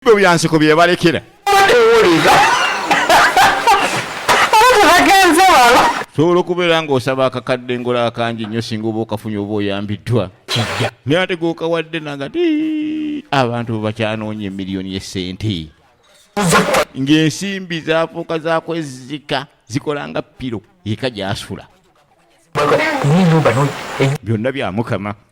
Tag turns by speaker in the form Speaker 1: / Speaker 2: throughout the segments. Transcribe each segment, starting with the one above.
Speaker 1: ebyo byansiko byebalekera sobola okubeera ng'osaba akakadde ngola akangi nnyo singa oba okafunye oba oyambiddwa naye ate gokawadde nanga ti abantu bebakyanoonya emiliyoni yesente ng'ensimbi zafuuka zakwezika zikola nga piro eka gyasula byonna bya mukama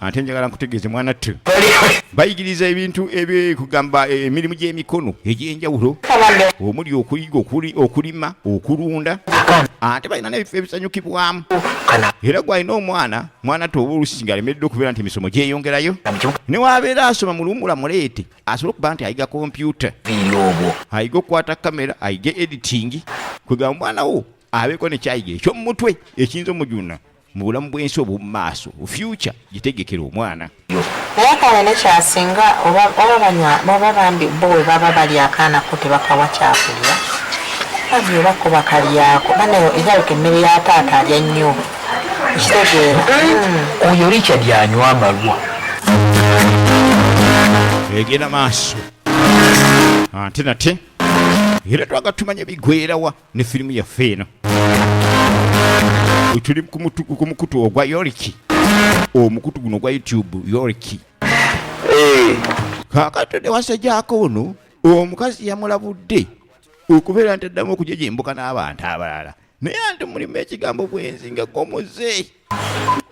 Speaker 1: ate njagala nkutegeeze mwana ttu bayigiriza ebintu ebyekugamba eh, emirimu gy'emikono egy'enjawulo omuli okuyiga okulima okulunda ate balina nebifo ebisanyukibwamu era gwalina omwana mwana ttu oba olusinga alemeredde okubeera nti emisomo gyeyongerayo newabeera asoma muluwumula muleete asobole okuba nti ayiga kompyuta ayiga okukwata kamera ayige editingi kwegamba omwana wo abeeko nekyayiga ekyomumutwe ekiyinza omujuna mu bulamu bw'ensi obw'omu maaso fyuca gitegekera omwana yakala
Speaker 2: ne kyasinga oba banywa baba bambi bo we baba bali akaana ko tebakawa kyakulya bambi oba ko bakalyako banayo egalika emmere ya taata alya nnyo ekitegeera hmm.
Speaker 3: oyo richard anywa amalwa
Speaker 1: egenda maaso ante nate era twaga tumanya bigwerawa ne firimu yaffe eno tuli ku mukutu ogwa yoriki omukutu guno ogwa youtube yoriki eh. kakati newasajako ono omukazi yamulabudde okubeera nti addamu okujejembuka n'abantu abalala naye anti mulimu ekigambo bwenzi nga gomuze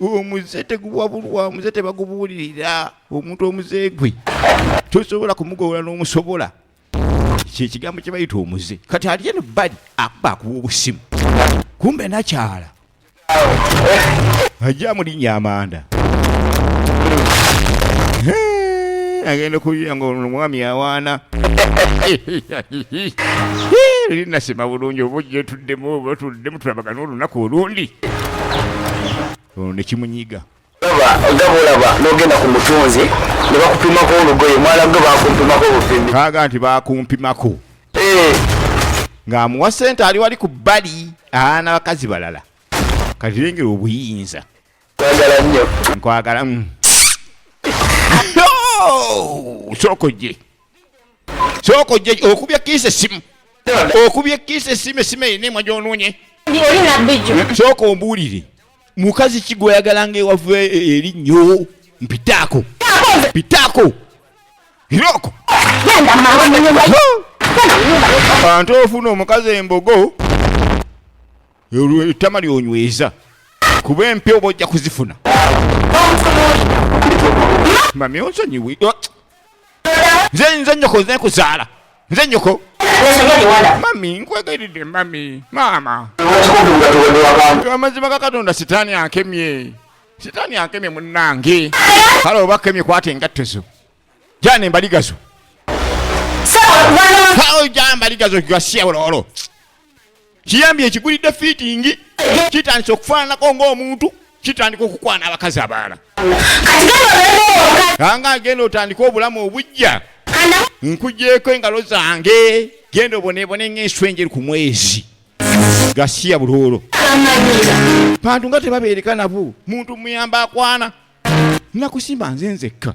Speaker 1: omuze teguwabulwa omuze tebagubuulirira omuntu omuze gwe tosobola kumugowula n'omusobola kyekigambo kyebayita omuze kati ali eno bali akuba akuba obusimu kumbe nakyala ajja mulinya amanda agenda kuyiya nga omwami awaana eri nasima bulungi oba ojja tuddemu oba tuddemu tulabagana olunaku olundi ono nekimunyiga
Speaker 3: kaga nti bakumpimako
Speaker 1: eh. ng'amuwa sente ali wali ku bbali aana bakazi balala kati lengera obuyinza kwagala nnyo nkwagala mm. sooka ojje sooka ojje okubye ekkiisa essimu okubye ekkiisa essimu essimu erina emwa gy'onoonye sooka ombuulire mukazi ki gweyagala nga ewava e, e, erinnyo mpitaako mpitaako iroko bantu ofuna omukazi embogo ettama lyonyweza kuba empi oba ojja kuzifuna mami onsonyiwi nze nze nyoko nze kuzaala nze nyoko mami nkwegayiridde mami maama amazima ga katonda sitaani akemye sitaani akemye munnange kale oba kemye kwata engatto zo jana embaligazo jambaligazo gasiya ololo kiyambye ekigulidde fiitingi kitandise okufaananako ng'omuntu kitandika okukwana abakazi abaala kanga agenda otandika obulamu obujja nkujeko engalo zange genda obonebone ngaenswenjeri ku mwezi gasiya buloolo bantu nga tebabeereka nabo muntu muyamba akwana nakusimba nze nzekka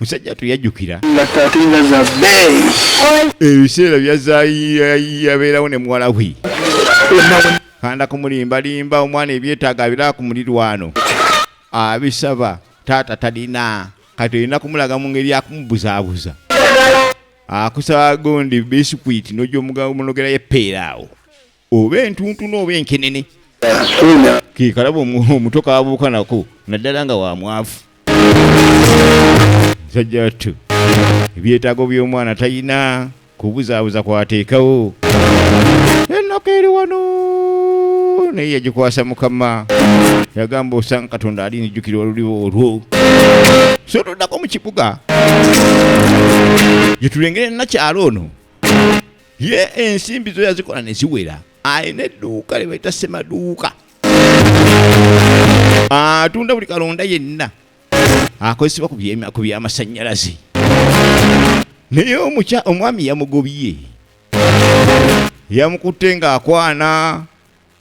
Speaker 1: musajja tuyajjukira ebiseera byazayabeerawo ne muwala we kanda kumulimbalimba omwana ebyetaaga abira ku mulirwano abisaba taata talina kati olina kumulaga mu ngeri akumubuzaabuza akusaba gundi bisikwiti nojomugomulogerayo epeera awo oba entuntunu oba enkenene kekalaba omuto kabuuka nako naddala nga wamwavu musajja wattu ebyetaago by'omwana talina kubuzaabuza kwateekawo ennaku eri wano naye yagikwasa mukama yagamba osanga katonda ali nijjukira oluliwo olwo so toddako mu kibuga gyetulengere nakyalo ono ye ensimbi zo yazikola ne ziwera alina edduuka lye bayita semaduuka atunda buli kalonda yenna akozesebwa ku byamasannyalaze naye omukya omwami yamugobye yamukutte ng'akwana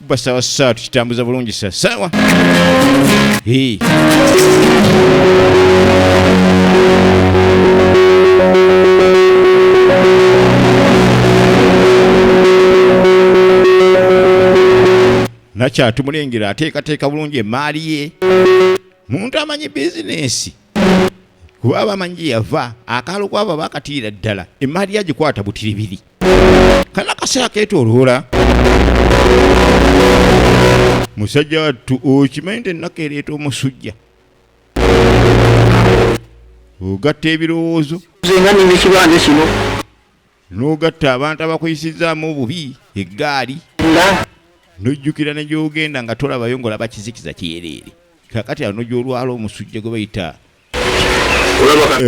Speaker 1: kuba sawa sawa tukitambuza bulungi sa sawa hey. nakyatumulengera ateekateeka bulungi emaali ye muntu amanyi bizinensi kuba abamanyi yava akaalo kwabo bakatiira ddala emaali yagikwata butiribiri kana kaseera ketoloola musajja wattu okimanyi nti ennaku ereeta omusujja ogatta ebirowoozo zenga nina ekibanja
Speaker 3: kino n'ogatta
Speaker 1: abantu abakuyisizaamu obubi eggaali nojjukira ne gyogenda nga tolabayo ngaolaba kizikiza kyereere kakati ano gyolwala omusujja gwe bayita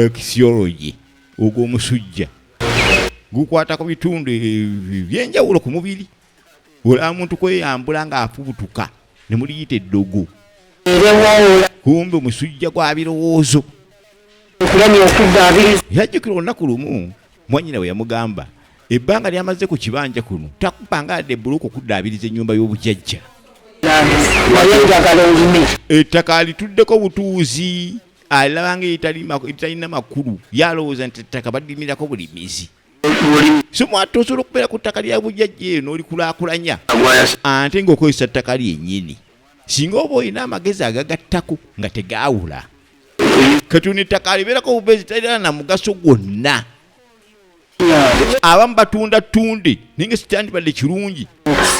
Speaker 1: ekisiologi ogwo omusujja gukwata ku bitundu ebyenjawulo ku mubiri olaba muntu kweyambula ng'afubutuka ne muliyita eddogo kumbe omusujja gwa birowoozo yajjukira olunaku lumu mwanyina bwe yamugamba ebbanga lyamaze ku kibanja kuno takupanga adde bbuluuka okuddaabiriza ennyumba y'obujajja ettaka alituddeko butuuzi alaba nga eritalina makulu yalowooza nti ettaka balimirako bulimizi so mwata osobola okubeera ku ttaka lya bujajja eyo n'olikulakulanya ante ng'okozesa ttaka lyennyini singa oba olina amagezi agagattako nga tegaawula kati ono ettaka alibeerako obubeezi talirana na mugaso gwonna abamu batunda tunde naye nga sikyandibadde kirungi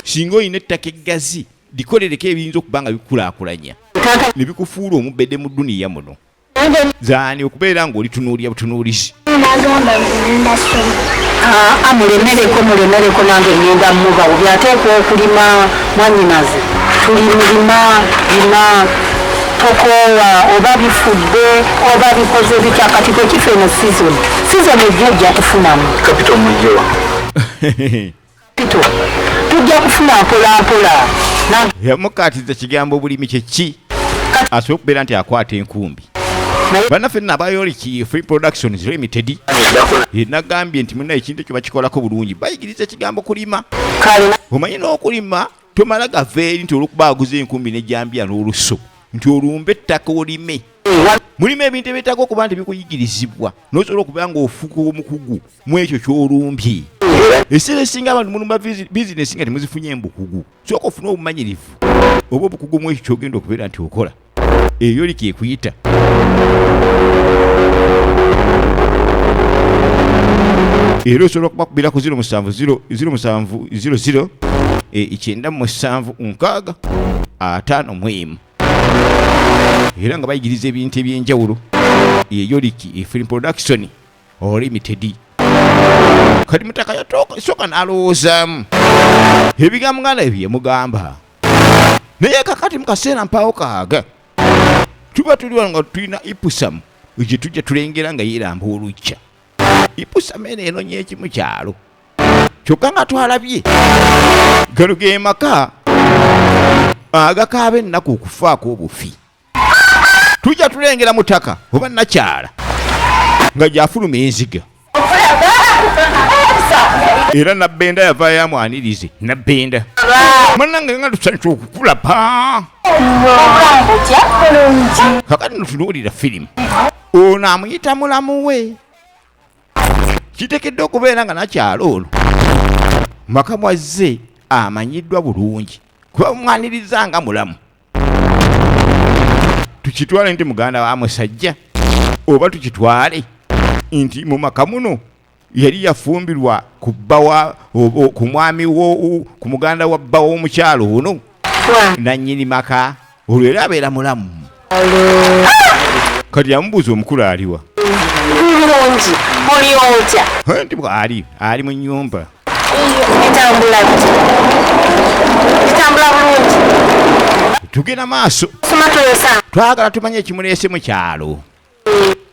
Speaker 1: singa olina ettaka eggazi likolereko ebiyinza okuba nga bikulaakulanya ne bikufuula omubede mu duniya muno zaani okubeera ng'olitunuulira butunuulizi ah,
Speaker 4: mulemereko mulemereko nange ngenda muba obi ateekwa okulima mwanyinaze tuli mulima lima tukoowa oba bifudde oba bikoze bitya kati kwekifa eno sizoni sizoni ejja ojja kufunamu kapito
Speaker 3: mujowa kapito
Speaker 4: tujja kufuna mpolampola yamukatiza
Speaker 1: kigambo obulimi kyeki asobola okubeera nti akwata enkumbi banaffe nabayoliki free productions limited nagambye nti muna ekintu ekyo bakikolako bulungi bayigiriza ekigambo kulima omanyi n'okulima tomala gaveeri nti olwokuba aguza enkumbi nejambiya n'olusu nti olumbe ettaka olime mulimu ebintu ebyetaaga okuba nti bikuyigirizibwa nosobola okuba nga ofuuka omukugu mu ekyo kyolumbye ekiseera esinga abantu mulumba bizinesi nga temuzifunye mbukugu sooka ofune obumanyirivu oba obukugu mu ekyo kyogenda okubeera nti okola eyo oli kyekuyita era osobola okubakubira ku 0700 ekyenda mu musanvu nkaaga ataano mu emu era nga bayigiriza ebintu eby'enjawulo eyoliki efilm production olulimi tedi kati mutaka yasooka n'alowoozaamu ebigambo nga nebye mugamba naye kakati mu kaseera mpaawo kaaga tuba tuli wano nga tulina ipusamu gye tujja tulengera nga yeeramba olujja ipusamu eno enonya ekimu kyalo kyokka nga twalabye gano ge maka agakaaba ennaku okufaako obufi tujja tulengera mutaka oba nakyala nga gyafuluma enziga era nabbenda yava yamwanirize nabbenda manange nga tusanyusa okukulaba kakati notunuulira firimu ono amuyita mulamu we kitekedde okubeera nga nakyalo ono maka mwazze amanyiddwa bulungi kuba mwaniriza nga mulamu tukitwale nti muganda wa musajja oba tukitwale nti mu maka muno yali yafumbirwa ku bbawa ku mwami ku muganda wa bbawa omukyalo ono nannyini maka olwo era abeera mulamu kati yamubuuza omukulu aliwa
Speaker 4: nti bwali
Speaker 1: ali mu nyumba Bitambula
Speaker 4: bitambula bulungi.
Speaker 1: Tugenda maaso.
Speaker 4: Twagala tumanye
Speaker 1: ekimuleese mu kyalo.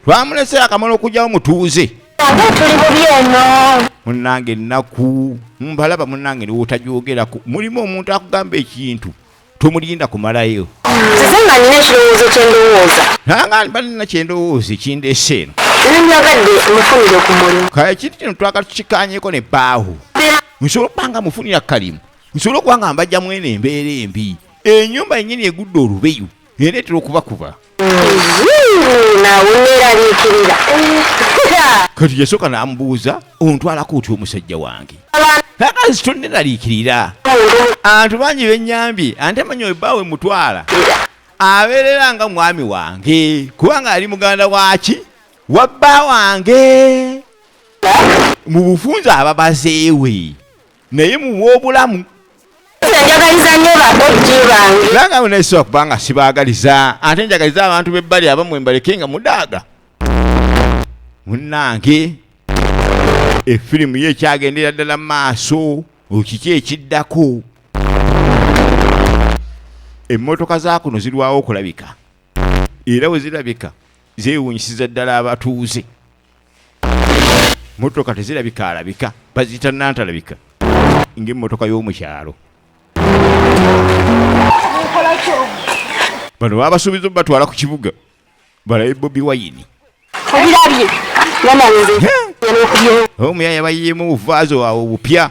Speaker 1: Twamulese akamala okugyawo mutuuze. Tuli bubi
Speaker 4: eno. Munnange ennaku
Speaker 1: mbalaba munnange niwootajogerako mulimu omuntu akugamba ekintu. tomulinda kumalayo nze nga nina
Speaker 4: ekirowoozo kyendowooza banina
Speaker 1: kyendowooza ekindeesa eno nandyagadde
Speaker 4: mufunire ku mulimu kale ekintu kino twagala
Speaker 1: tukikanyeko ne baawo nsobola okuba nga mufunira kalimu nsobola okuba nga mbajja mwene embeera embi enyumba yenyini egudde olubeyu ereetera okubakuba kati yasooka n'amubuuza ontwalako otya omusajja wange akazi tonneraliikirira antu bangi bennyambye ante manya oyo baawe mutwala abeerera nga mwami wange kubanga ali muganda waki wabba wange mu bufunza ababazeewe naye muwa obulamu njagaliza
Speaker 4: nyo bakojji bange nanga naisiwa kubanga
Speaker 1: sibagaliza ate njagaliza abantu bebbali abamwe mbaleke nga mudaaga munange efirimu ye ekyagendera ddala maaso okiki ekiddako emmotoka zakuno zirwawo okulabika era wezirabika zewunyisiza ddala abatuuze motoka tezirabika alabika baziyita nantalabika ngaemotoka y'omukyalo bano babasuubiza obatwala ku kibuga balabe bobi wayini omuyaya bayiyeemu obuvaazi wawe obupya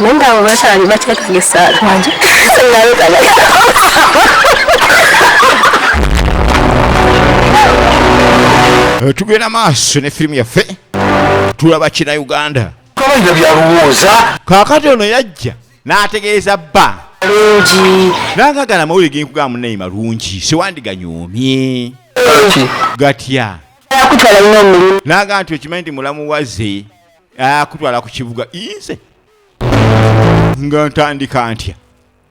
Speaker 4: naye nga abo bakyali bateekaga essaala
Speaker 1: wangi eh, tugenda maaso ne firimu yaffe tulaba kina uganda kabaina byalowooza
Speaker 3: kakati ono
Speaker 1: yajja n'ategeeza bba lungi
Speaker 4: nangagala amawulire
Speaker 1: genkugamba munaye malungi siwandiganyomye gatya
Speaker 4: nagamba nti okimanyi nti mulamu
Speaker 1: waze akutwala ku kibuga inze nga ntandika ntya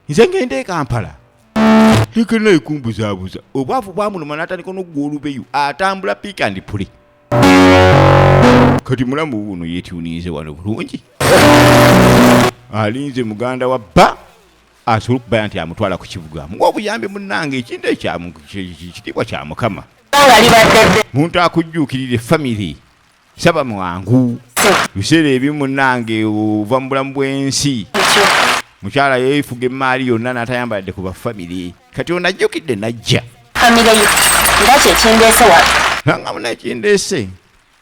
Speaker 1: nze ngenda ekampala tekena ekumbuzabuza obwavu bwamuluma natandika nokugwa olubeyu atambula pik and puli kati mulamu wuno yetuninze wano bulungi alinze muganda wa bba asobola okubaya nti amutwala ku kibuga muwa obuyambi munange ekintu ekyakitiibwa kya mukama muntu akujjuukirire famiry saba mwangu biseera ebimu munange ova mu bulamu bw'ensi mukyala yeefuga emmaali yonna n'atayambaladde ku bafamire kati ono ajjukidde najja famire
Speaker 4: ye nga kyekindeese
Speaker 1: wa nanga
Speaker 4: munakindeese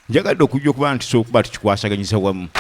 Speaker 1: njagadde okujja okuba nti sokuba tukikwasaganyisa wamu